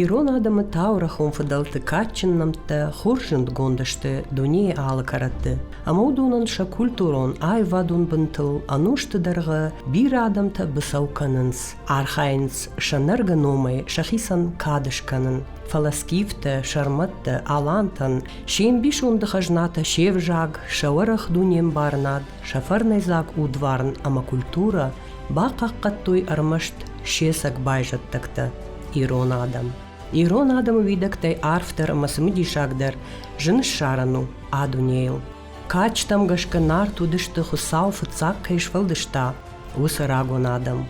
Ирон адӕмы таурӕхон фыдӕлты кадджын нӕмттӕ хорз зындгонд сты дунейы алы кӕрӕтты, ӕмӕ уыдонӕн сӕ культурон аивадон бынтыл ӕнусты дӕргъы бирӕ адӕмтӕ быцӕу кӕнынц, архайынц сӕ нӕргӕ номӕй сӕхицӕн кад скӕнын. фӕлӕ скифтӕ, сӕрмӕттӕ, алантӕн се мбисонды хӕзнатӕ се взаг, сӕ уӕрӕх дунембарынад, сӕ фӕрнӕйдзаг удварн ӕмӕ культурӕ бахъахъхъӕдтой ӕрмӕст сесӕг байзӕддӕгтӕ ирон адӕм. Ирон адӕмы уидӕгтӕй арфдӕр ӕмӕ цымыдисагдӕр зын ссарӕн у а дунейыл. Кадджытӕм гӕсгӕ Нарт уыдысты, Хуыцау фыццаг кӕй сфӕлдыста, уыцы рагон адӕм.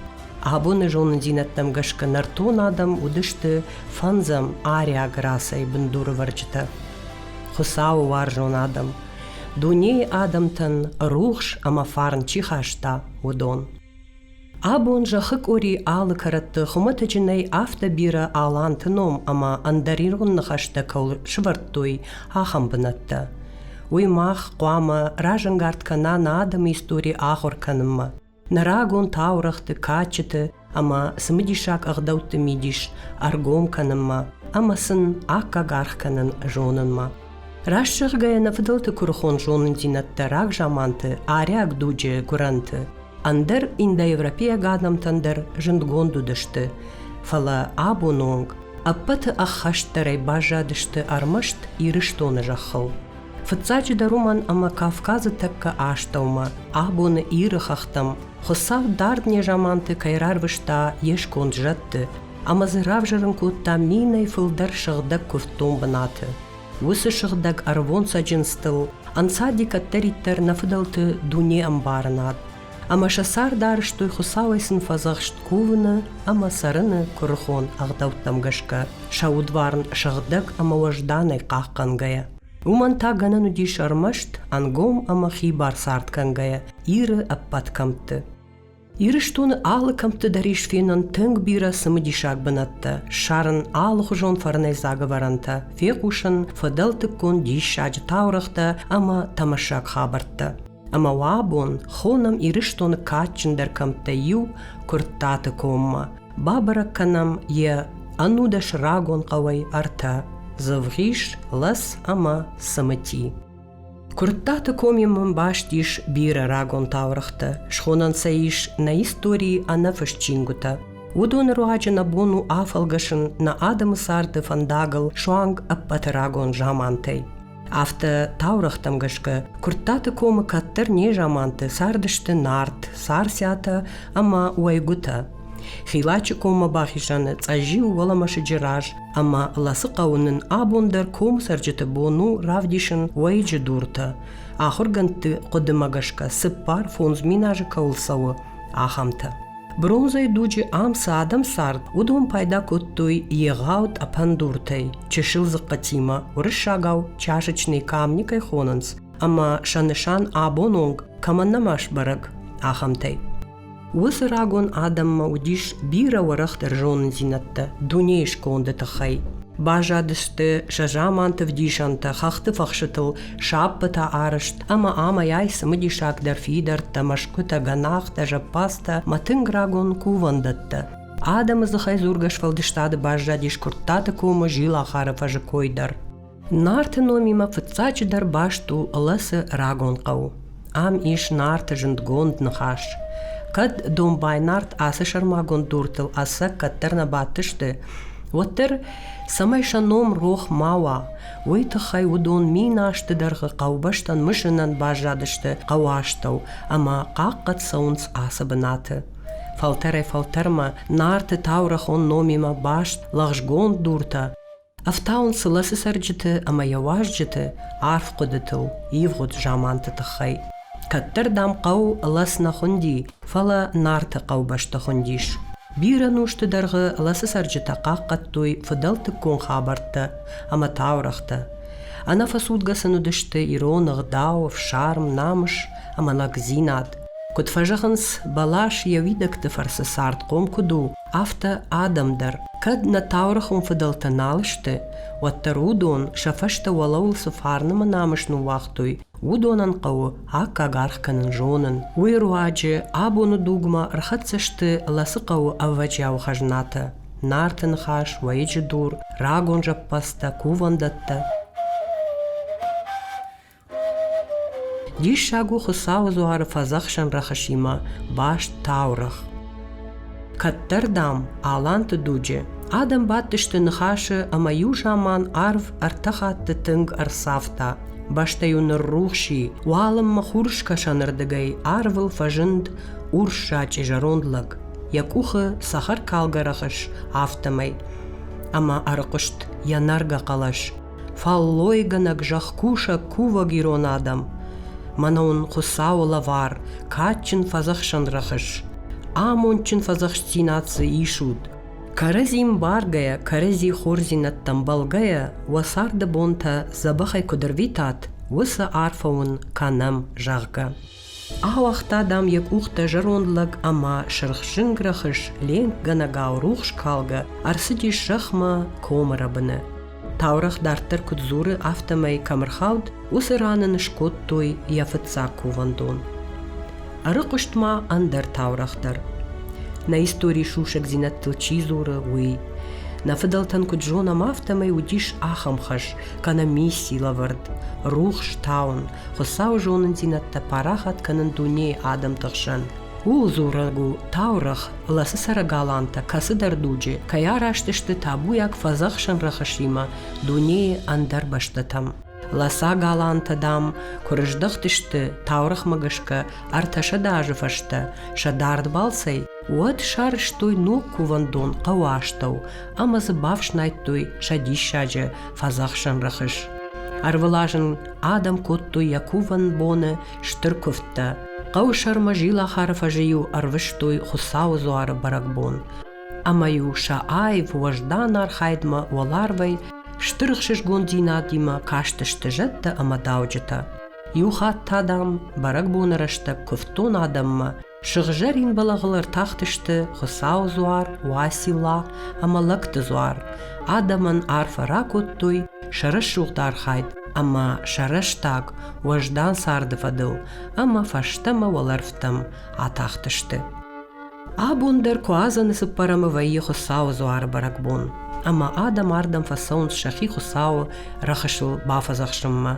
Абоны зонындзинӕдтӕм гӕсгӕ нӕртон адӕм уыдысты фӕндзӕм ариаг расӕй бындурывӕрджытӕ. Хуыцауы уарзон адӕм, дунейы адӕмтӕн рухс ӕмӕ фарн чи хаста, уыдон. Абон зӕххы къуыри алы кӕрӕтты хуымӕтӕджы нӕй афтӕ бирӕ аланты ном ӕмӕ ӕндӕр ирон ныхӕстӕ кӕуыл сывӕрдтой, ахӕм бынӕттӕ. Уый мах хъуамӕ разӕнгард кӕна нӕ адӕмы истори ахуыр кӕнынмӕ. Нӕ рагон таурӕгъты, кадджыты ӕмӕ цымыдисаг ӕгъдӕутты мидис ӕргом кӕнынмӕ ӕмӕ сын аккаг аргъ кӕнын зонынмӕ. Раст зӕгъгӕйӕ, нӕ фыдӕлты куырыхон зонындзинӕдтӕ рагзаманты, арӕх дуджы гуырӕнты, ӕндӕр индоевропейаг адӕмтӕн дӕр зындгонд уыдысты, фӕлӕ абон онг ӕппӕты ӕххӕстдӕрӕй баззадысты ӕрмӕст Ирыстоны зӕххыл. Фыццаджыдӕр уымӕн ӕмӕ Кавказы тӕккӕ астӕумӕ, абоны Иры хӕхтӕм, Хуыцау дард незаманты кӕй рарвыста йе сконд зӕдты, ӕмӕ дзы равзӕрын кодтам минӕй фылдӕр сыгъдӕг куывддон бынаты. Уыцы сыгъдӕг ӕрвон цӕджындзтыл ӕнцади кӕддӕриддӕр нӕ фыдӕлты дуне ӕмбарынад, ӕмӕ сӕ цард арӕзтой Хуыцауӕй сын фӕдзӕхст кувыны ӕмӕ цӕрыны куырыхон ӕгъдӕуттӕм гӕсгӕ, сӕ удварн сыгъдӕг ӕмӕ уӕзданӕй хъахъхъӕнгӕйӕ. Уымӕн та гӕнӕн уыдис ӕрмӕст ӕнгом ӕмӕ хибар цард кӕнгӕйӕ Иры ӕппӕт кӕмтты. Ирыстоны алы кӕмтты дӕр ис фенӕн тынг бирӕ цымыдисаг бынӕттӕ, ссарын алыхуызон фӕрнӕйдзаг ӕвӕрӕнтӕ, фехъусын фыдӕлтыккон диссаджы таурӕгътӕ ӕмӕ тӕмӕссаг хабӕрттӕ. Ӕмӕ уӕ бон хонӕм Ирыстоны кадджындӕр кӕмттӕй иу Куырттаты коммӕ. Бабӕрӕг кӕнӕм йӕ ӕнудӕс рагон хъӕуӕй ӕртӕ – Дзывгъис, Лӕс ӕмӕ Цымыти. Куырттаты коми мын баст ис бирӕ рагон таурыхътӕ, схонӕн сӕ ис нӕ историйы ӕнӕфыст чингуытӕ. Уыдоны руаджы нӕ бон у афӕлгӕсын нӕ адӕмы царды фӕндагыл суанг ӕппӕты рагон замантӕй. Афтӕ таурӕгътӕм гӕсгӕ Куырттаты комы кӕддӕр незаманты цардысты нарт, царциатӕ ӕмӕ уӕйгуытӕ. Хилачы коммӕ бахизӕны Цъӕзиу уӕлӕмӕсыджы раз ӕмӕ Ласы хъӕуы нын абон дӕр комцӕрджыты бон у равдисын уӕйыджы дуртӕ, ахуыргӕндты хъуыдымӕ гӕсгӕ цыппар фондз миназы кӕуыл цӕуы, ахӕмтӕ. Бронзӕйы дуджы ам цы адӕм цард, уыдон пайда кодтой егъау тъӕпӕн дуртӕй, чысыл дзыхъхъытимӕ, уырыссагау чашечный камни кӕй хонынц, ӕмӕ сӕ нысан абон онг кӕмӕн нӕма сбӕрӕг, ахӕмтӕй. Уыцы рагон адӕммӕ уыдис бирӕ уӕрӕхдӕр зондзинӕдтӕ дунейы сконды тыххӕй. Баззадысты сӕ заманты вдисӕнтӕ, хӕхты фӕхсытыл саппытӕ арӕзт ӕмӕ амӕй-ай цымыдисагдӕр фидӕрттӕ, мӕсгуытӕ, гӕнахтӕ, зӕппӕдзтӕ ӕмӕ тынг рагон кувӕндӕттӕ. Адӕмы дзыхӕй дзургӕ сфӕлдыстады баззадис Куырттаты комы Зилахары фӕзы кой дӕр. Нарты номимӕ фыццаджыдӕр баст у Лӕцы рагон хъӕу. Ам ис Нарты зындгонд ныхас. Кӕд домбай нарт ацы сӕрмагонд дуртыл ӕцӕг кӕддӕр нӕ бадтысты, уӕддӕр, цӕмӕй сӕ ном рох ма уа, уый тыххӕй уыдон мин азты дӕргъы хъӕубӕстӕн мысынӕн баззадысты хъӕуастӕу ӕмӕ хъахъхъӕд цӕуынц ацы бынаты. Фӕлтӕрӕй-фӕлтӕрмӕ Нарты таурӕхон номимӕ баст лӕгъзгонд дуртӕ Ӕфтауын сыласы цӕрджыты ӕмӕ йӕ уазджыты арф хъуыдытыл, ивгъуыд заманты тыххӕй. Кӕддӕр, дам, хъӕу Лас нӕ хуынди, фӕлӕ Нарты хъӕубӕсты хуындис. Бирӕ нозты дӕргъы Ласы цӕрджытӕ хъахъхъӕдтой фыдӕлтыккон хабӕрттӕ ӕмӕ таурӕгътӕ. Ӕнӕфӕцудгӕ сын уыдысты ирон ӕгъдау, фсарм, намыс ӕмӕ лӕгдзинад. Куыд фӕзӕгъынц, бӕлас йӕ уидӕгты фӕрцы цардхъом куыд у, афтӕ адӕм дӕр кӕд нӕ таурӕхъон фыдӕлтӕ нал сты, уӕддӕр уыдон сӕ фӕстӕ уӕлӕуыл цы фарнымӕ намыс ныууагътой, уыдонӕн хъӕуы аккаг аргъ кӕнын зонын. Уый руаджы абоны дугмӕ ӕрхӕццӕ сты Лӕцыхъӕуы ӕвӕджиауы хӕзнатӕ, Нарты ныхас, Уӕйыджы дур, Рагон зӕппӕдзтӕ, Кувӕндӕттӕ. Диссаг у Хуыцауы дзуары фӕдзӕхсӕн рӕхысимӕ баст таурӕгъ. Кӕддӕр, дам, Аланты дуджы адӕм бадтысты ныхасы ӕмӕ иу заман арв ӕртӕ хатты тынг ӕрцавта. Бӕстӕ-иу ныррухс и, уалынмӕ хурыскӕсӕнырдыгӕй арвыл фӕзынд урссачъи зӕронд лӕг. Йӕ къухы цӕхӕркалгӕ рӕхыс, афтӕмӕй. Ӕмӕ ӕрыхъуыст йӕ нӕргӕ хъӕлӕс. Фӕллойгӕнӕг, зӕхкусӕг, кувӕг ирон адӕм! Мӕнӕ уын Хуыцауы лӕвар, кадджын фӕдзӕхсӕн рӕхыс! Амондджын фӕдзӕхстдзинад дзы исут! Кӕрӕдзим баргӕйӕ, кӕрӕдзи хорздзинӕдтӕм бӕлгӕйӕ, уӕ царды бонтӕ дзӕбӕхӕй куыд ӕрвитат, уыцы арфӕ уын кӕнӕм, зӕгъгӕ. Ауагъта, дам, йӕ къухтӕ зӕронд лӕг ӕмӕ сырхзын рӕхыс ленкгӕнӕгау рухс калгӕ ӕрцыдис зӕхмӕ комы рӕбыны. Таурӕгъ дарддӕр куыд дзуры, афтӕмӕй кӕм ӕрхауд, уыцы ран ын скодтой йӕ фыццаг кувӕндон. Ӕрыхъуыст ма ӕндӕр таурӕгъ дӕр. Нӕ историйы сусӕгдзинӕдтыл чи дзуры, уый. Нӕ фыдӕлтӕн куыд зонӕм, афтӕмӕй уыдис ахӕм хӕс, кӕнӕ мисси лӕвӕрд – рухс таун, Хуыцауы зонындзинӕдтӕ парахат кӕнын дунейы адӕмты хсӕн. Ууыл дзурӕг у таурӕгъ, къласы цӕрӕг алантӕ кӕцыдӕр дуджы кӕй араст сты табуйаг фӕдзӕхсӕн рӕхысимӕ дунейы ӕндӕр бӕстӕтӕм. Ласаг алантӕ, дам, куы рыздӕхтысты таурӕгъмӕ гӕсгӕ ӕртӕсӕдэ азы фӕстӕ сӕ дард балцӕй, уӕд сарӕзтой ног кувӕндон хъӕуы астӕу ӕмӕ дзы бафснайдтой сӕ диссаджы фӕдзӕхсӕн рӕхыс. Ӕрвылазын адӕм кодтой йӕ кувӕн боны стыр куывдтӕ. Хъӕуы сӕрмӕ зилахары фӕзы-иу ӕрвыстой Хуыцауы дзуары бӕрӕгбон. Ӕмӕ-иу сӕ аив уӕздан архайдмӕ уӕларвӕй стыр ӕхсызгондзинадимӕ кастысты зӕдтӕ ӕмӕ дауджытӕ. Иу хатт та, дам, бӕрӕгбоны рӕстӕг куывдтон адӕммӕ Сыгъзӕрин бӕлӕгъыл ӕртахтысты Хуыцауы дзуар, Уацилла ӕмӕ Лӕгты дзуар. Адӕмӕн арфӕ ракодтой сӕ рӕсугъд архайд ӕмӕ сӕ рӕстӕг уӕздан царды фӕдыл ӕмӕ фӕстӕмӕ уӕлӕрвтӕм атахтысты. Абон дӕр Куадзӕны цыппӕрӕмы вӕййы Хуыцауы дзуары бӕрӕгбон, ӕмӕ адӕм ардӕм фӕцӕуынц сӕхи Хуыцауы рӕхысыл бафӕдзӕхсынмӕ.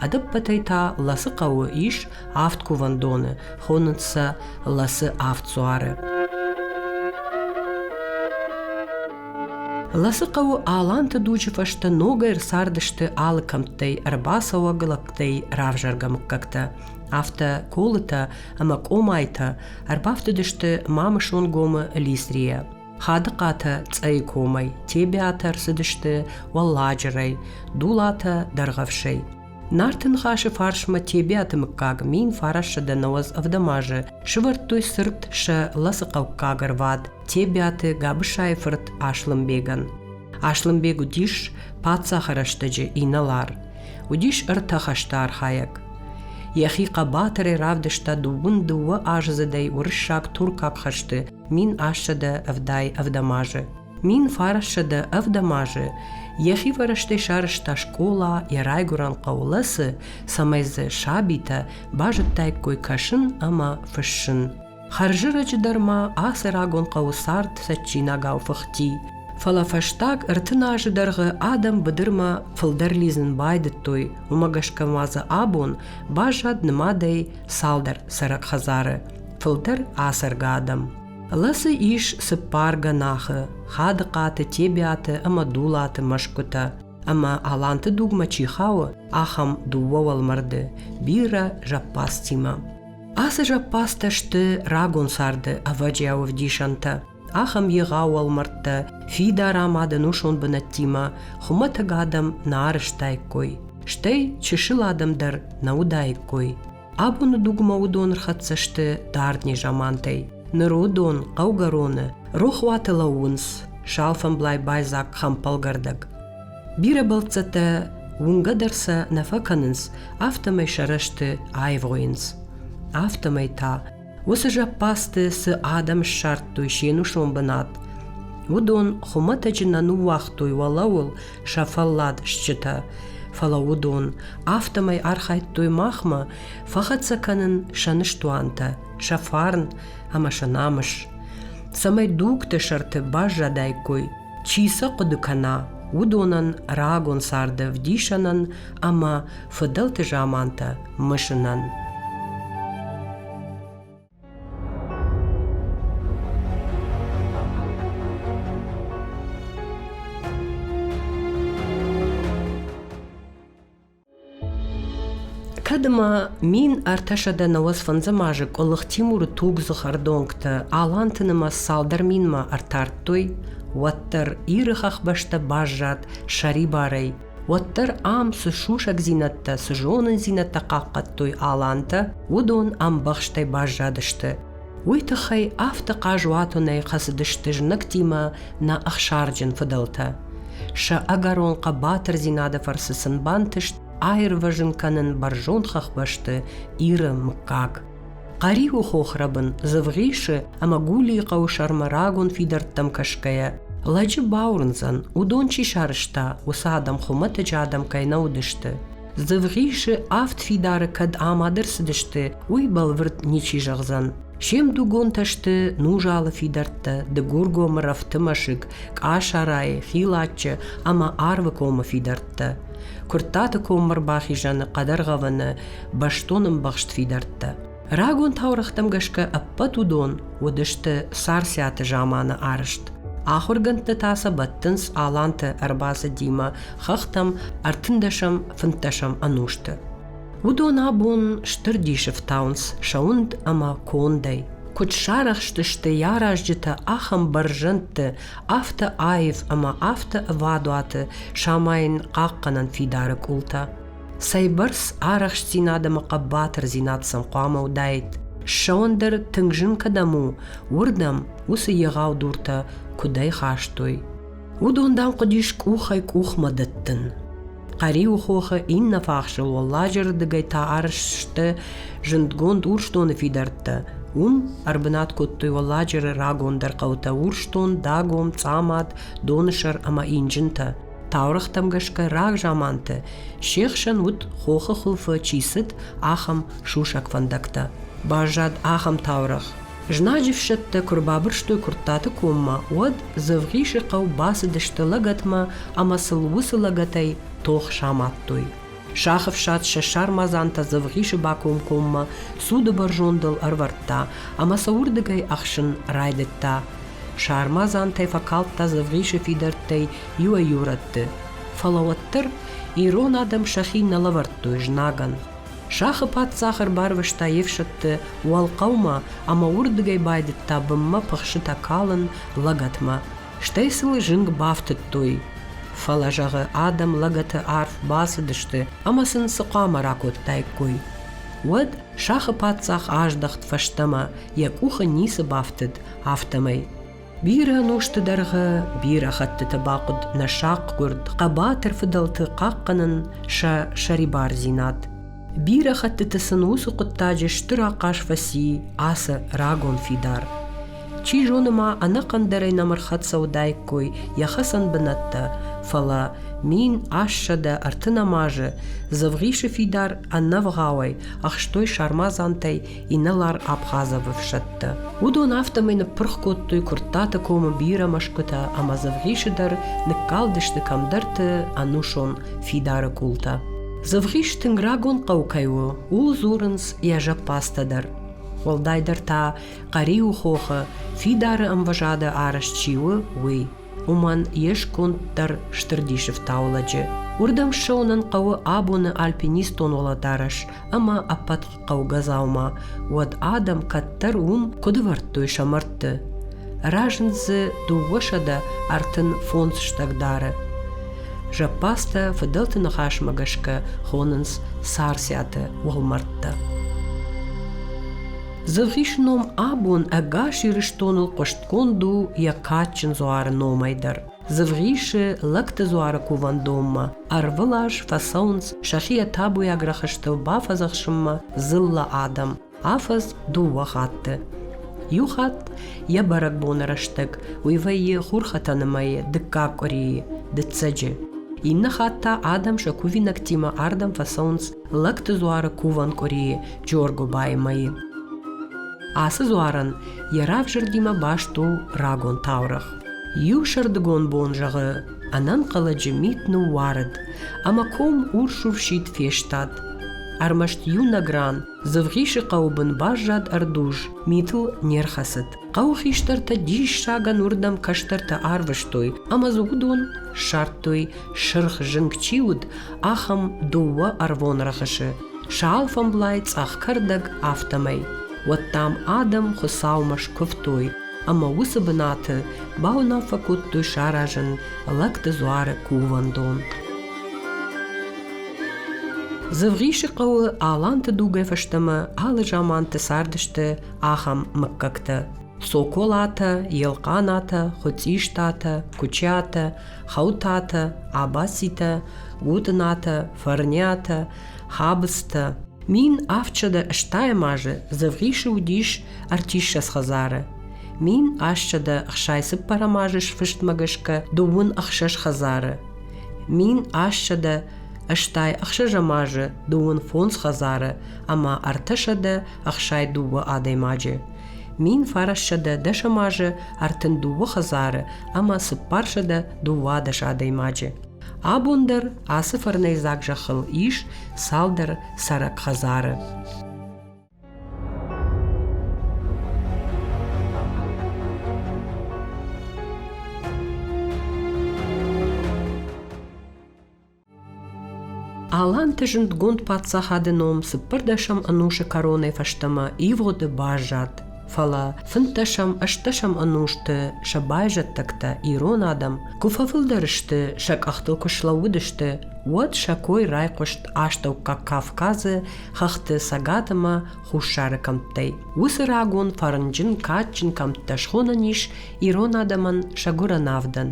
Ӕдӕппӕтӕй та Ласы хъӕуы ис Авд кувӕндоны хонынц сӕ ласы авд дзуары. Ласы хъӕуы аланты дуджы фӕстӕ ногӕй ӕрцардысты алы кӕмттӕй ӕрбацӕуӕг лӕгтӕй равзӕргӕ мыггӕгтӕ. Афтӕ колытӕ ӕмӕ къомайтӕ ӕрбафтыдысты Мамысонгомы Лисрийӕ. Хадыхъатӕ Цъӕйы комӕй, Тебиатӕ ӕрцыдысты Уӕлладжырӕй, Дулатӕ Дӕргъӕвсӕй. Нарты ныхасы фарсмӕ Тебиаты мыггаг мин фарӕссы дӕнӕуӕдз ӕвдӕм азы сывӕрдтой цырт сӕ лӕсыхъӕуккаг ӕрвад Тебиаты Габысайы фырт Аслымбегӕн. Аслымбег уыдис паддзахы рӕстӕджы инӕлар. Уыдис ӕртӕ хӕсты архайӕг. Йӕхи хъӕбатырӕй равдыста дыууын дыууӕ аздзыдӕй уырыссаг-туркаг хӕсты мин ассӕдӕ ӕвдай ӕвдӕм азы. Мин фарассӕдӕ ӕвдӕм азы йӕхивӕрӕстӕй сарӕзта скъола йӕ райгуырӕн хъӕуы цы, цӕмӕй дзы сабитӕ базыдтаиккой кӕсын ӕмӕ фыссын. Хӕрзӕрӕджы дӕр ма ацы рагон хъӕуы цард цӕджджинагау фыхти. Фӕлӕ фӕстаг ӕртын азы дӕргъы адӕм быдырмӕ фылдӕр лидзын байдыдтой, уымӕ гӕсгӕ ма дзы абон баззад нымадӕй цалдӕр цӕрӕг хӕдзары, фылдӕр ацӕргӕ адӕм. Ласы ис цыппар гӕнахы Хадыхъаты, Тебиаты ӕмӕ Дулаты мӕсгуытӕ, ӕмӕ аланты дугмӕ чи хауы, ахӕм дыууӕ уӕлмӕрды бирӕ зӕппадзтимӕ. Ацы зӕппадзтӕ сты рагон царды ӕвӕджиауы вдисӕнтӕ. Ахӕм егъау уӕлмӕрдтӕ фидар амад ӕнусон бынӕттимӕ хуымӕтӕг адӕм нӕ арызтаиккой, стӕй чысыл адӕм дӕр нӕ уыдаиккой. Абоны дугмӕ уыдон рхӕццӕ сты дард незамантӕй. Ныр уыдон хъӕугӕроны рохуаты лӕууынц, салфӕмблай байдзаг хӕмпӕлгӕрдӕг. Бирӕ бӕлццӕттӕ уынгӕ дӕр сӕ нӕ фӕкӕнынц, афтӕмӕй сӕ рӕзты аивгъуыйынц. Афтӕмӕй та Уыцы зӕппӕдзты цы адӕм ссардтой се нусон бынат, уыдон хуымӕтӕджы нӕ ныууагътой уӕлӕуыл сӕ фӕллад стджытӕ, фӕлӕ уыдон афтӕмӕй архайдтой махмӕ фӕхӕццӕ кӕнын сӕ ныстуантӕ, сӕ фарн ӕмӕ сӕ намыс, цӕмӕй дугты сӕрты баззадаиккой Чи сӕ хъуыды кӕна, уыдонӕн рагон царды ӕвдисӕнӕн ӕмӕ фыдӕлты замантӕ мысынӕн. Кӕд ма мин ӕртӕсӕдӕ нӕуӕдзфӕндзӕм азы Къуылых Тимуры тугдзых ӕрдонгтӕ Аланты нымӕц цалдӕр минмӕ ӕртардтой, уӕддӕр Иры хӕхбӕстӕ баззад сӕрибарӕй, уӕддӕр ам цы сусӕгдзинӕдтӕ, цы зонындзинӕдтӕ хъахъхъӕдтой алантӕ, уыдон ӕмбӕхстӕй баззадысты. Уый тыххӕй афтӕ хъазуатонӕй хӕцыдысты знӕгтимӕ нӕ ӕхсарджын фыдӕлтӕ. Сӕ ӕгӕрон хъӕбатырдзинады фӕрцы сын бантыст аирвӕзын кӕнын бӕрзонд хӕхбӕсты Иры мыггаг. Хъӕриуы хохрӕбын Зывгъисы ӕмӕ Гулийы хъӕуы сӕрмӕ рагон фидӕрттӕм кӕсгӕйӕ, лӕджы бауырндзӕн, уыдон чи сарӕзта, уыцы адӕм хуымӕтӕджы адӕм кӕй нӕ уыдысты. Дзывгъисы авд фидары кӕд амад ӕрцыдысты, уый бӕлвырд ничи зӕгъдзӕн. Се мдугонтӕ сты Нужалы фидӕрттӕ, Дыгургомы рӕфты мӕсыг, Къасарайы, Хилаччы ӕмӕ Арвы комы фидӕрттӕ. Куырттаты коммӕ рбахизӕны хъӕдӕргъӕвӕны бӕстон ӕмбӕхст фидӕрттӕ. Рагон таурӕгътӕм гӕсгӕ ӕппӕт уыдон уыдысты Царциаты заманы арызт. Ахуыргӕндтӕ та сӕ бӕттынц аланты ӕрбацыдимӕ хӕхтӕм ӕртындӕсӕм, фынддӕсӕм ӕнусты. Уыдон абон стыр дисы фтауынц сӕ уынд ӕмӕ кондӕй. Куыд сарӕхстысты йӕ аразджытӕ ахӕм бӕрзӕндты, афтӕ аив ӕмӕ афтӕ ӕвадуаты самайын хъахъхъӕнӕн фидары къултӕ. Цӕйбӕрц арӕхстдзинад ӕмӕ хъӕбатырдзинад сӕм хъуамӕ уыдаид, ссӕуӕн дӕр тынг зын кӕдӕм у, уырдӕм уыцы егъау дуртӕ куыдӕй хастой. Уыдон, дам, хъуыдис къухӕй-къухмӕ дӕттын. Хъӕриуы хохы иннӕ фахсыл уӕлладжырдыгӕй та арыз сты зындгонд Урсдоны фидӕрттӕ. Уым ӕрбынат кодтой уӕлладжыры рагондӕр хъӕутӕ Урсдон, Дагом, Цъамад, Доны сӕр ӕмӕ Инджынтӕ. Таурыхътӕм гӕсгӕ рагзаманты се хсӕн уыд, хохы хуылфы чи цыд, ахӕм сусӕг фӕндӕгтӕ. Баззад ахӕм таурӕгъ. Знаджы фсӕдтӕ куы рбабырстой Куырттаты коммӕ, уӕд Дзывгъисы хъӕу бацыдысты лӕгӕтмӕ ӕмӕ сыл уыцы лӕгӕтӕй тох самадтой. Сах ӕфсад сӕ сармадзантӕ Дзӕвгъисы бакомкоммӕ цуды бӕрзондыл ӕрӕвӕрдта ӕмӕ сӕ уырдыгӕй ӕхсын райдыдта. Сармадзантӕй фӕкалдта Дзӕвгъисы фидӕрттӕй иуӕй-иу рӕтты, фӕлӕ уӕддӕр ирон адӕм сӕхи нӕ лӕвӕрдтой знагӕн. Сахы паддзах ӕрбарвыста йе фсӕдты Уӕлхъӕумӕ ӕмӕ уырдыгӕй байдыдта бынмӕ пыхсытӕ калын лӕгӕтмӕ. Стӕй сыл зынг бафтыдтой. Фӕлӕ, зӕгъы, адӕм лӕгӕты арф бацыдысты ӕмӕ сын цы хъуамӕ ракодтаиккой? Уӕд сахы паддзах аздӕхт фӕстӕмӕ, йӕ къухы ницы бафтыд, афтӕмӕй. Бирӕ нозты дӕргъы, бирӕ хӕттыты бахъуыд нӕ сахъгуырд, хъӕбатыр фыдӕлты хъахъхъӕнын сӕ сӕрибардзинад. Бирӕ хӕттыты сын уыцы хъуыддаджы стыр ахъаз фӕци ацы рагон фидар. Чи зоны ма ӕнӕхъӕндӕрӕй нӕм ӕрхӕццӕ уыдаиккой йӕ хӕцӕн бынӕттӕ, фӕлӕ мин ассӕдӕ ӕртын ӕм азы Дзывгъисы фидар ӕнӕвгъауӕй ӕхстой сармадзантӕй инӕлар Абхазовы ӕфсӕдтӕ. Уыдон афтӕмӕй ныппырх кодтой Куырттаты комы бирӕ мӕсгуытӕ ӕмӕ Дзывгъисы дӕр ныккалдысты кӕмдӕрты ӕнусон фидары къултӕ. Дзывгъис тынг рагон хъӕу кӕй у, ууыл дзурынц йӕ зӕппадзтӕ дӕр. Уӕлдайдӕр та Хъӕриуы хохы фидары ӕмвӕзады арӕзт чи у, уый. Уымӕн йе сконд дӕр стыр дисы фтауы лӕджы. Уырдӕм ссӕуынӕн хъӕуы абоны альпинистон уӕлӕдарӕс ӕма ӕппӕт хъӕугӕ дзаума, уӕд адӕм кӕддӕр уым куыд вӕрдтой сӕ мӕрдты. Разынд дзы дыууӕсӕдӕ ӕртын фондз стӕгдары. Зӕппадзтӕ фыдӕлты ныхасмӕ гӕсгӕ хонынц сарсиаты уӕлмӕрдтӕ. Дзыргъисы ном абон ӕгас Ирыстоныл хъуыстгонд у йӕ кадджын дзуары номӕй дӕр. Дзывгъисы лӕгты дзуары кувӕндонмӕ ӕрвылаз фӕцӕуынц сӕхи табуйаг рӕхыстыл бафӕдзӕхсынмӕ дзыллӕ адӕм, афӕдз дыууӕ хатты. Иу хатт йӕ бӕрӕгбоны рӕстӕг уый вӕййы хурхӕтӕны мӕйы дыккаг къуырийы, дыццӕджы. Иннӕ хатт та адӕм сӕ кувинӕгтимӕ ардӕм фӕцӕуынц лӕгты дзуары кувӕн къуырийы Джоргуыбайы мӕйы. Ацы дзуарӕн йӕ равзӕрдимӕ баст у рагон таурӕгъ. Иу сӕрдыгон бон зӕгъы, ӕнӕнхъӕлӕджы мит ныууарыд, ӕмӕ ком урсуфсид фестад. Ӕрмӕст иунӕг ран Дзывгъисы хъӕуы бын баззад ӕрдуз, митыл не рхӕцыд. Хъӕуы хистӕртӕ диссагӕн уырдӕм кӕстӕртӕ арвыстой, ӕмӕ дзы уыдон ссардтой, сырх зынг чи уыд, ахӕм дыууӕ ӕрвон рӕхысы, сӕ алфӕмблай цъӕх кӕрдӕг, афтӕмӕй. Уӕд дам адӕм Хуыцаумӕ скуывтой, ӕмӕ уыцы бынаты бауынаффӕ кодтой саразын Лӕгты дзуары кувӕндон. Дзывгъисы хъӕуы аланты дугӕй фӕстӕмӕ алы заманты цардысты ахӕм мыггӕгтӕ Цоколатӕ, Елхъанатӕ, Хуыцъистатӕ, Кучиатӕ, Хаутатӕ, Абацитӕ, Гутынатӕ, Фӕрниатӕ, Хабызтӕ мин афчада стаймазы зывгъисы уыдис ӕртиссӕдз хӕдзары. Мин астчада хсай цыппӕрӕмазы сфыстмӕ гӕсгӕ дыууын ӕхсӕз хӕдзары. Мин астчада Ӕстай ӕхсӕзӕмазы дыууын фондз хӕдзары ӕмӕ ӕртӕсӕдӕ ӕхсай дыууӕ адӕймаджы. Мин фарассӕдӕ дӕсӕмазы ӕртын дыууӕ хӕдзары ӕмӕ цыппарсӕдӕ дыууадӕс адӕймаджы. Абон дӕр ацы фӕрнӕйдзаг зӕххыл ис цалдӕр цӕрӕг хӕдзары. Аланты зындгонд паддзахады ном цыппӕрдӕсӕм ӕнусы кӕронӕй фӕстӕмӕ ивгъуыды баззад. Фӕлӕ фынддӕсӕм-ӕстдӕсӕм ӕнусты сӕ байзӕддӕгтӕ, ирон адӕм, куы фӕфылдӕр сты, сӕ къӕхтыл куы слӕууыдысты, уӕд сӕ кой райхъуыст Астӕуккаг Кавказы хӕхты цӕгат ӕмӕ хуссары кӕмттӕй. Уыцы рагон фӕрнджын, кадджын кӕмттӕ схонӕн ис ирон адӕмӕн сӕ гуырӕн авдӕн.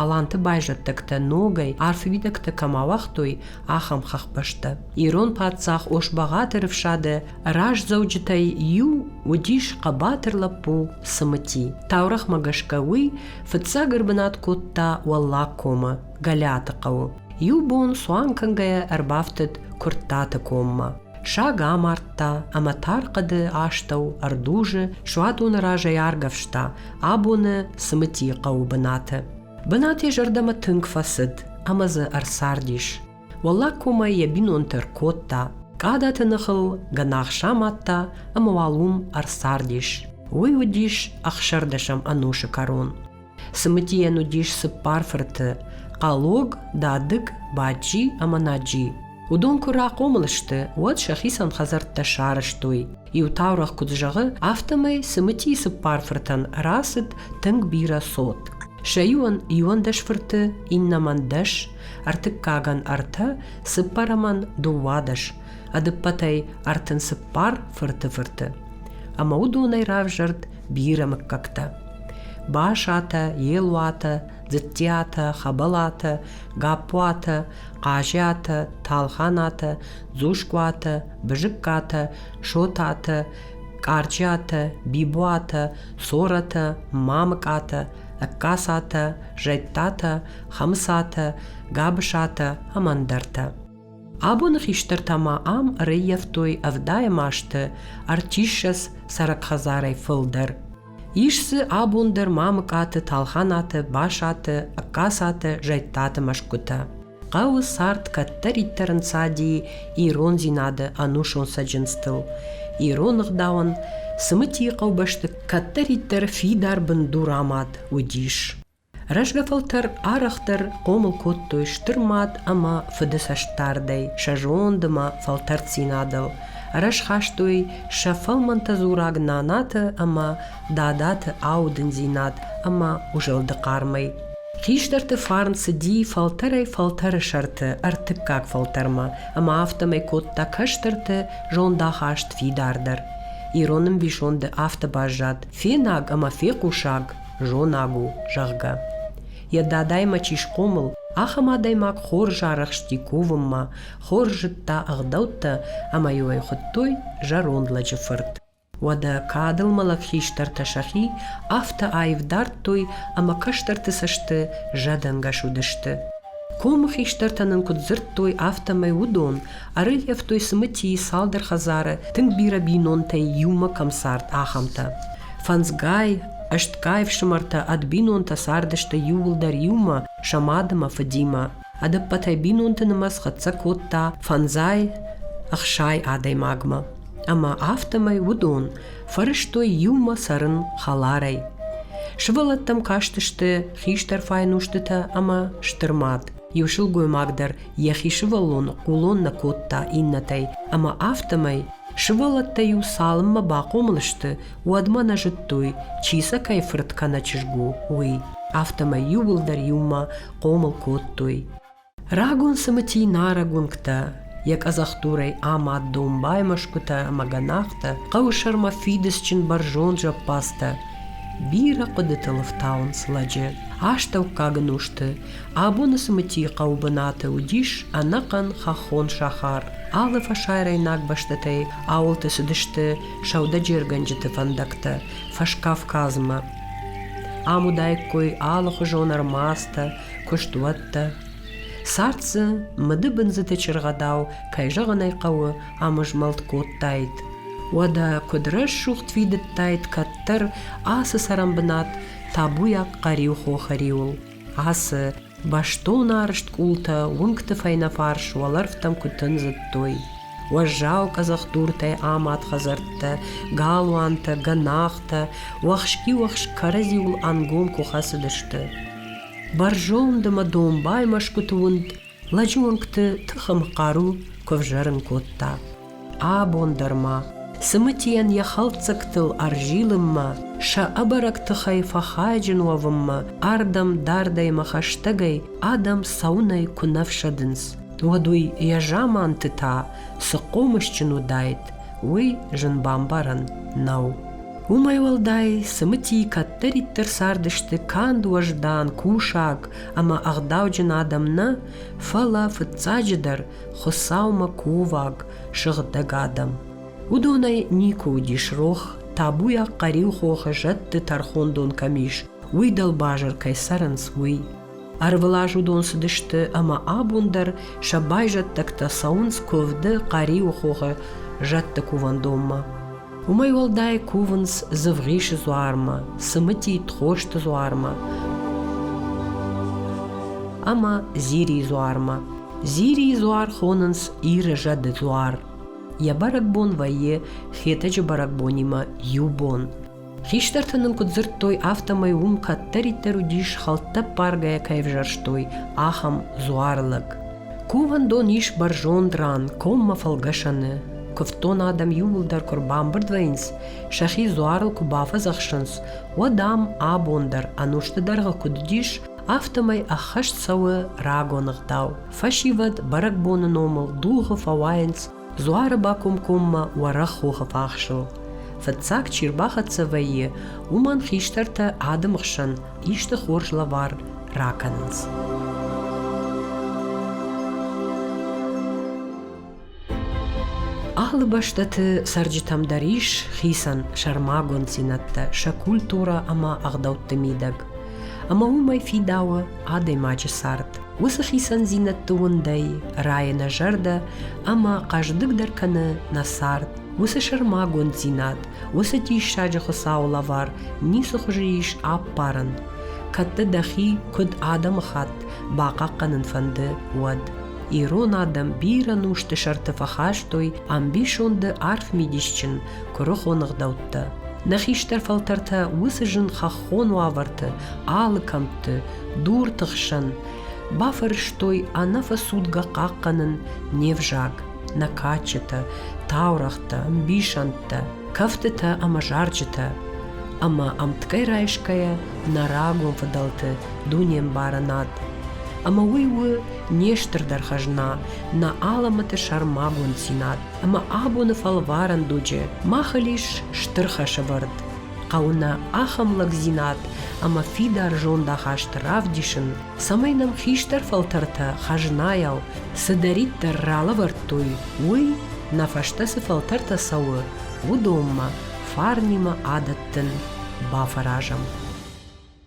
Аланты байзӕддӕгтӕ ногӕй арф уидӕгтӕ кӕм ауагътой, ахӕм хӕхбӕстӕ. Ирон паддзах Ошбагъаты рыфсады раздзӕуджытӕй иу уыдис хъӕбатыр лӕппу Цымыти. Таурӕгъмӕ гӕсгӕ уый фыццаг ӕрбынат кодта Уӕллагкомы, Гӕлиаты хъӕуы. Иу бон цуан кӕнгӕйӕ ӕрбафтыд Куырттаты коммӕ. Саг амардта ӕмӕ тар хъӕды астӕу ӕрдузы суадоны разӕй аргӕвста абоны Цымытийы хъӕуы бынаты. Бынат йӕ зӕрдӕмӕ тынг фӕцыд ӕмӕ дзы ӕрцардис. Уӕллаг комӕй йӕ бинонтӕ ркодта, къадаты ныхыл гӕнах самадта ӕмӕ уал уым ӕрцардис. Уый уыдис ӕхсӕрдӕсӕм ӕнусы кӕрон. Цымыдийӕн уыдис цыппар фырты – Хъалог, Дадыг, Баджи ӕмӕ Наджи. Уыдон куы рахъомыл сты, уӕд сӕхицӕн хӕдзӕрттӕ сарӕзтой. Иу таурӕгъ куыд зӕгъы, афтӕмӕй Цымытийы цыппар фыртӕн рацыд тынг бирӕ цот. Сӕ иуӕн иуӕндӕс фырты, иннӕмӕн дӕс, Ӕртыккагӕн ӕртӕ, цыппӕрӕмӕн дыууадӕс, ӕдыппӕтӕй ӕртын цыппар фырты фырты. Ӕмӕ уыдонӕй равзӕрд бирӕ мыггӕгтӕ. Башатӕ, Елуатӕ, Дзыттиатӕ, Хӕбӕлатӕ, Гаппуатӕ, Хъазиатӕ, Талханатӕ, Дзускуатӕ, Бызыккатӕ, Шотатӕ, Къарджиатӕ, Бибуатӕ, Цоратӕ, Мамыкъатӕ, Ӕгкасатӕ, Зӕдтатӕ, Хӕмыцатӕ, Гӕбысатӕ ӕмӕ ӕндӕртӕ. Абоны хистӕртӕ ма ам ӕрӕййӕфтой ӕвдайӕм азты ӕртиссӕдз цӕрӕг хӕдзарӕй фылдӕр. Ис дзы абон дӕр Мамыкъаты, Талханаты, Басаты, Ӕгкасаты, Зӕдтаты мӕсгуытӕ. хъӕуы цард кӕддӕриддӕр ӕнцади ирондзинады ӕнусон цӕджындзтыл. Ирон ӕгъдауӕн цымытийы хъӕубӕсты кӕддӕриддӕр фидар бындур амад уыдис. Рӕзгӕ фӕлтӕр арӕхдӕр хъомыл кодтой стыр мад ӕмӕ фыды цӕстдардӕй, сӕ зонд ӕмӕ фӕлтӕрддзинадыл. Ӕрсхастой сӕ фӕлмӕнтӕ дзураг нанаты ӕмӕ дадаты аудындзинад ӕмӕ узӕлды хъармӕй. Хистӕрты фарн цыди фӕлтӕрӕй-фӕлтӕры сӕрты ӕртыккаг фӕлтӕрмӕ, ӕмӕ афтӕмӕй кодта кӕстӕрты зондахаст фидардӕр. Ирон ӕмбисонды афтӕ баззад, фенӕг ӕмӕ фехъусӕг зонаг у, зӕгъгӕ. Йӕ дадаймӕ чи схъомыл, ахӕм адӕймаг хорз арӕхсти кувынмӕ, хорз зыдта ӕгъдӕуттӕ ӕмӕ-иу ӕй хуыдтой зӕронд лӕджы фырт. Уӕдӕ кадыл мӕлӕт хистӕртӕ сӕхи афтӕ аив дардтой ӕмӕ кӕстӕрты цӕсты зӕдӕнгӕс уыдысты. Комы хистӕртӕ нын куыд дзырдтой, афтӕмӕй уыдон ӕрӕййӕфтой цымытийы цалдӕр хӕдзары, тынг бирӕ бинонтӕй иумӕ кӕм цард, ахӕмтӕ. Фӕндзгай, ӕстгай ӕфсымӕртӕ ӕд бинонтӕ цардысты иууылдӕр иумӕ, сӕ мадымӕ, фыдимӕ. Ӕдӕппӕтӕй бинонты нымӕц хӕццӕ кодта фӕндзай ӕхсай адӕймагмӕ, ӕмӕ афтӕмӕй уыдон фӕрӕзтой иумӕ цӕрын хӕларӕй. Сывӕллӕттӕм кастысты хистӕр файнустытӕ ӕмӕ стыр мад. Иу сылгоймаг дӕр йӕхи сывӕллон хъулон нӕ кодта иннӕтӕй, ӕмӕ афтӕмӕй сывӕллӕттӕ-иу цалынмӕ бахъомыл сты, уӕдмӕ нӕ зыдтой, чи сӕ кӕй фырт кӕнӕ чызг у, уый. Афтӕмӕй иууылдӕр иумӕ хъомыл кодтой. Рагон цымыти нарӕг уынгтӕ, йӕ къӕдзӕхдурӕй амад домбай мӕсгуытӕ ӕмӕ гӕнахтӕ, хъӕуы сӕрмӕ фидыцджын бӕрзонд зӕппадзтӕ. Бирӕ хъуыдытыл ӕфтауынц лӕджы астӕуккаг ын усты. Абоны цымытийы хъӕубынаты уыдис ӕнӕхъӕн хӕххон сахар. Алы фӕсарӕйнаг бӕстӕтӕй ауылты цыдысты сӕудӕджергӕнджыты фӕндӕгтӕ Фӕскавказмӕ. Ам уыдаиккой алыхуызон ӕрмадзтӕ, куыстуӕттӕ. Цард дзы мыдыбындзыты чыргъӕдау, кӕй зӕгъын ӕй хъӕуы, ӕмызмӕлд кодтаид. Уӕдӕ куыд рӕсугъд фидыдтаид кӕддӕр ацы цӕрӕнбынат табуйаг хъӕриу хохы риуыл. Ацы Бӕстон арызт къултӕ уынгты фӕйнӕфарс уӕлӕрвтӕм куы тындзыдтой. Уӕззау къӕдзӕхдуртӕй амад хӕдзӕрттӕ, галуантӕ, гӕнахтӕ, уӕхски-уӕхск кӕрӕдзиуыл ӕнгом куы хӕцыдысты. Бӕрзонд ӕмӕ домбай мӕсгуыты уынд лӕджы уынгты тыхым хъару куы взӕрын кодта. Абон дӕр ма цымытийӕн йӕ хӕлддзӕгтыл ӕрзилынмӕ, сӕ ӕбӕрӕг тыхӕй фӕхайджын уӕвынмӕ ардӕм дардӕй-мӕ хӕстӕгӕй адӕм цӕуынӕй куы нӕ фсӕдынц, уӕд уый йӕ заманты та цы хъомысджын уыдаид, уый зын бамбарӕн нӕу. Уымӕй уӕлдай, цымытийы кӕддӕриддӕр цардысты канд уӕздан, кусаг ӕмӕ ӕгъдауджын адӕм нӕ, фӕлӕ, фыццаджыдӕр, Хуыцаумӕ кувӕг, сыгъдӕг адӕм. Уыдонӕй никуы уыдис рох, табуйаг хъӕриу хохы зӕдты тӕрхондон кӕм ис, уый дӕлбазыр кӕй цӕрынц, уый. Ӕрвылаз уыдон цыдысты ӕмӕ абон дӕр сӕ байзӕддӕгтӕ цӕуынц куывды Хъӕриуы хохы зӕдты кувӕндонмӕ. Уымӕй уӕлдай кувынц Дзывгъисы дзуармӕ, Цымытит хосты дзуармӕ ӕмӕ Зирийы дзуармӕ. Зирийы дзуар хонынц Иры зӕды дзуар. Йӕ бӕрӕгбон вӕййы Хетӕджы бӕрӕгбонимӕ иу бон. Хистӕртӕ нын куыд дзырдтой, афтӕмӕй уым кӕддӕриддӕр уыдис хӕлттӕппаргӕйӕ кӕй ӕвзӕрстой, ахӕм дзуар лӕг. Кувӕндон ис бӕрзонд ран, коммӕ фӕлгӕсӕны. Куывддон адӕм иууылдӕр куы рбамбырд вӕййынц, сӕхи дзуарыл куы бафӕдзӕхсынц, уӕд ам абон дӕр ӕнусты дӕргъы куыд уыдис, афтӕмӕй ӕххӕст цӕуы рагон ӕгъдау. Фӕсивӕд бӕрӕгбоны номыл дугъы фӕуайынц Дзуары бакомкоммӕ уӕрӕх хохы фахсыл. Фыццаг чи рбахӕццӕ вӕййы, уымӕн хистӕртӕ ады хсӕн исты хорз лӕвар ракӕнынц. Алы бӕстӕты цӕрджытӕм дӕр ис хицӕн сӕрмагонддзинӕдтӕ сӕ культурӕ ӕмӕ ӕгъдӕутты мидӕг. Ӕмӕ уымӕй фидауы адӕймаджы цард. Уыцы хицӕндзинӕдты уындӕй райы нӕ зӕрдӕ ӕмӕ хъӕздыгдӕр кӕны нӕ цард. Уыцы сӕрмагонддзинад, уыцы диссаджы Хуыцауы лӕвар ницы хуызы ис ӕппарын, кӕд дӕ дӕхи куыд адӕмыхатт бахъахъхъӕнын фӕнды, уӕд. Ирон адӕм бирӕ нусты сӕрты фӕхастой ӕмбисонды арф мидисджын куырыхон ӕгъдӕуттӕ. Нӕ хистӕр фӕлтӕртӕ уыцы зын хӕххон хон уавӕрты, алы кӕмтты, дурты хсӕн, бафӕрӕзтой ӕнӕфӕцудгӕ хъахъхъӕнын не взаг, накаччытӕ, таурӕгътӕ, ӕмбисӕндтӕ, кӕфтытӕ ӕмӕ зарджытӕ. Ӕмӕ ӕмткӕй райсгӕйӕ нӕ рагон фыдӕлты дунембарынад ӕмӕ уый у не стырдӕр хӕзна, нӕ алӕмӕты сӕрмагонд дзинад ӕмӕ абоны фӕлварӕн дуджы мах ыл ис стыр хӕсӕвӕрд. хъӕуы нӕ ахӕм лӕгдзинад ӕмӕ фидар зондахаст равдисын, цӕмӕй нӕм хистӕр фӕлтӕртӕ хӕзнайау цыдӕриддӕр ралӕвӕрдтой, уый, нӕ фӕстӕ цы фӕлтӕртӕ цӕуы, уыдонмӕ, фарнимӕ адӕттын, бафӕразӕм.